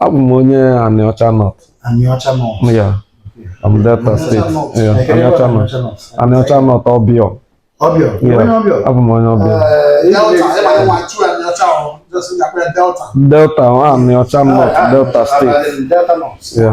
abụ m onye Anịọcha North Anịọcha North ya I'm Delta State ya Anịọcha North Anịọcha North Ọbịọ Ọbịọ abụ m onye Ọbịọ Delta Anịọcha North Delta State ya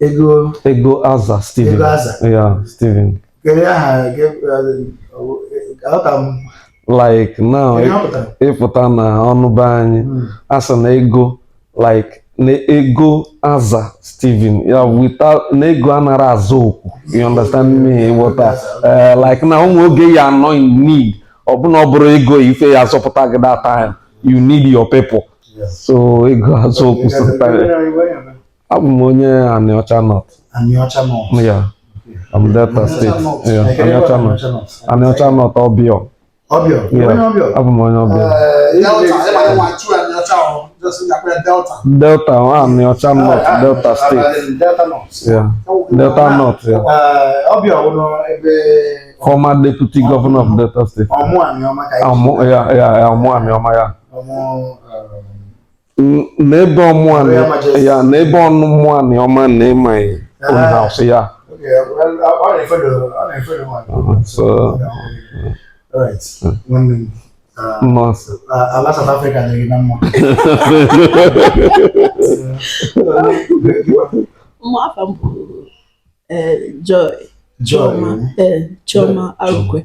Ego Ego Aza Steven. Ego Aza. Yeah, Steven. Kedu aha ke- eh, aghọta m Like now Kedu ihe ọ pụtara? ị pụta n'ọnụ be anyị Mm. a sị na ego like na ego aza Steven ya without na ego anara aza okwu you understand me ị ghọta Eh, like na o nwe oge ị ya-anọ in need ọ bụ na ọ bụrọ ego ife ya-azọpụta gị that time you need your people so ego aza okwu sometimes abụ m onye Anịọcha North Anịọcha North ya I'm Delta State Anịọcha North Anịọcha North Ọbịọ Ọbịọ abụ m onye Ọbịọ Delta Anịọcha North Delta State Delta North ya Ọbịọ wụrụ ebe former deputy governor of Delta State. Ọmụ Aniọma ka ya. Ọmụ Aniọma ya. n'ebe Ọmụ Anị- ya n'ebe Ọmụ Aniọma na ịmaghị own house ya nọọsụ ala South Africa dịrị na mma mma afa m bụ eh, Joy Joy Chioma eh, Arụkwe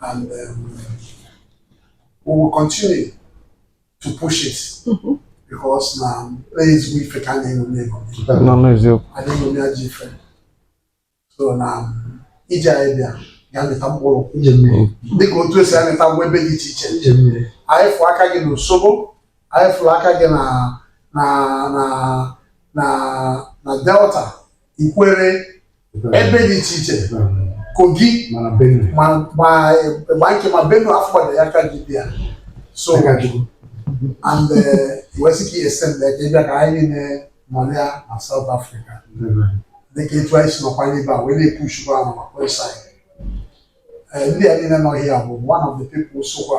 and um, we will continue to push it mm-hmm. because na um, place we fit and then we go. No, no, it's you. I think we are different. So na um, ije anyị bịa ga-amịta mkpụrụ dịka otu o si amịta ngwa ebe dị iche iche anyị fụ aka gị n'Isobo anyị fụrụ aka gị na na na na na Delta Ikwere ebe dị iche iche Kogi ma nke ma Benue afọ gbada ya aka gị bịa so and eh, wee sị ka i extend ka ị bịa ka anyị niile nọlịa na South Africa dịka etu anyị si nọkwa n'ebe a wee na-epushukwa ahụ maka website ndị a niile nọ here bụ one of the people sokwa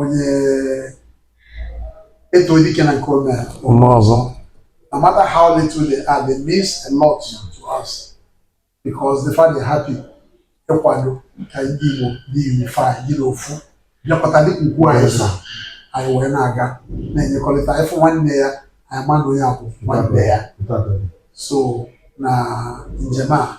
onye e too dike na nke o me o mee ọzọ no matter how little they are they means a lot to us because the fact they're happy ịkwado ka ndị Igbo dị unified dị n'ofu bịakọta dịka ugwu anyị so anyị wee na-aga na-enyekọrịta ị fụ nwanne ya anyị ma na onye a bụ nwanne ya so na njem a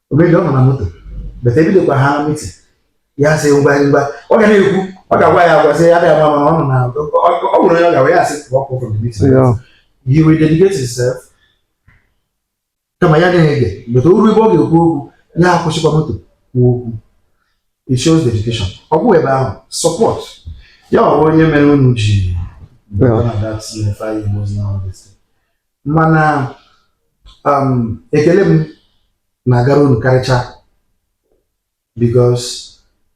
ọ busy ọ nọ na moto but ebidokwa ha meeting ya sị ngwa ngwa ọ ga na-ekwu ọ ga-agwa ya agwa sị ya bịa mama ọ nọ na ọ gwụrụ ya ọ ga-agwa ya sị pụọ pụọ from the meeting he will dedicate himself kama ya na-ege but o ruo ebe ọ ga-ekwu okwu ya akwụsịkwa moto kwuo okwu it shows dedication ọ bụ ebe ahụ support ya ọ bụ onye mere unu ji Yeah. None of that unify emotional honesty. mana um, ekele m na-agara unu karịcha because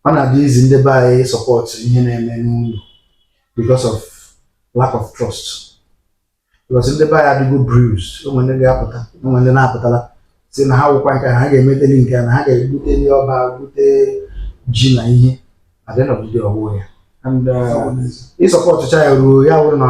ọ na-adị easy ndị be anyị support ihe na-eme n'ụlọ because of lack of trust because ndị be anyị adịgo bruised o nwe ndị ga-apụta o nwe ndị na-apụtala sị na ha wụkwa nke ha ga-emeteli nke na ha ga-ebute ndị ọba bute ji na ihe at the end of the day ọ wụ ya and uh, ị supportụcha ya ruo ya wụrụ na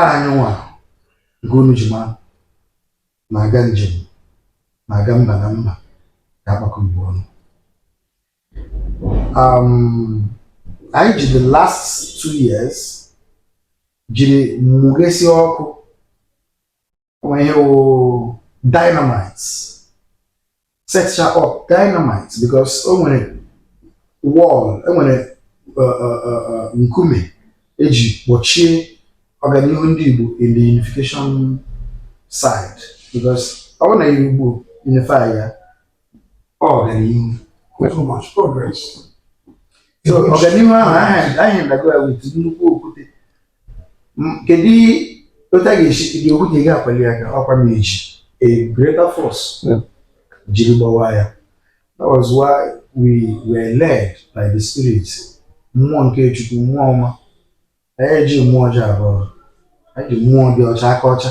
anyị nwa nke unu ji mara na-aga njem na-aga mba na mba ga-agbakọ Igbo ọnụ um, anyị ji the last two years jiri mụghesi ọkụ o nwe ihe wụ dynamite set ya up dynamite because o nwere wall enwere uh, uh, uh, nkume eji gbochie ọganihu ndị Igbo in the unification side because ọ bụrụ na Igbo unify ya ọganihu so much progress so ọganihu ahụ aha- a hinderago ya with nnukwu okwute M- kedu otu a ga-esi dị okwute ị ga-akwali ya aka ọkwa ma eji a greater force Yeah. jiri gbawa ya that was why we were led by the spirit mmụọ nke chukwu mmụọ ọma anyị eji mmụọ ọjọọ abịa anyị ji mmụọ dị ọcha aka ọcha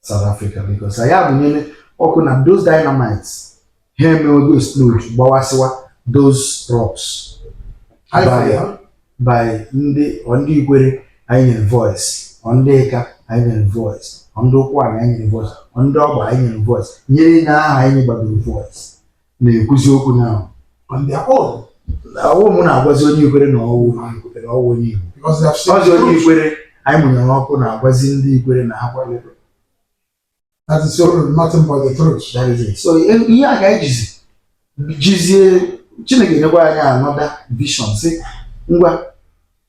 South Africa because anyị mụnyere ọkụ na those dynamites ha emewego explode gbawasịwa those rocks Anyị by, fere ya. by ndị ọ ndị ikwere anyị nyere voice ọ ndị ika anyị nyere voice ọ ndị ụkwụanị anyị nyere voice ọ ndị ọgba anyị nyere voice nyere ndị ahụ anyị nyegbadoro voice na-ekwuzi okwu now on their own ọ wụ mụ na-agwazi onye ikwere na ọ wụ onye ikwere ọ wụ onye igbo because they have seen ọzọ onye truth. ikwere anyị mụnyere ọkụ na-agwazi ndị ikwere na ha kwalere That is all, nothing but the truth. That is it. so ihe ihe a ka anyị jizi jizie chineke nyekwa anyị another vision sị ngwa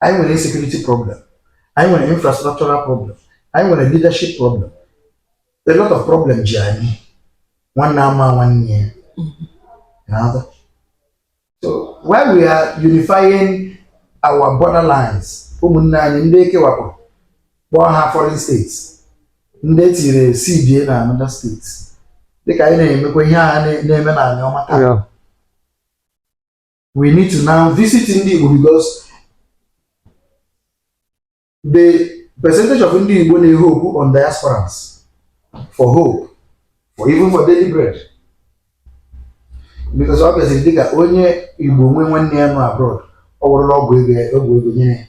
anyị nwere security problem anyị nwere infrastructural problem anyị nwere leadership problem a lot of problem ji anyị nwanne ama nwanne ya na-ada so while we are unifying our borderlines ụmụnne anyị ndị e kewapụrụ kpọọ ha foreign states ndị e tiri cba na another states dịka anyị na-emekwa ihe a na-eme n'Anioma taa we need to now visit ndị Igbo because the percentage of ndị Igbo na-ehope on diasporans for hope for even for daily bread because ọ bịaziri dịka onye Igbo nwe nwanne ya nọ abroad ọ wụrụla ọgwụ ego ọgwụ ego nyere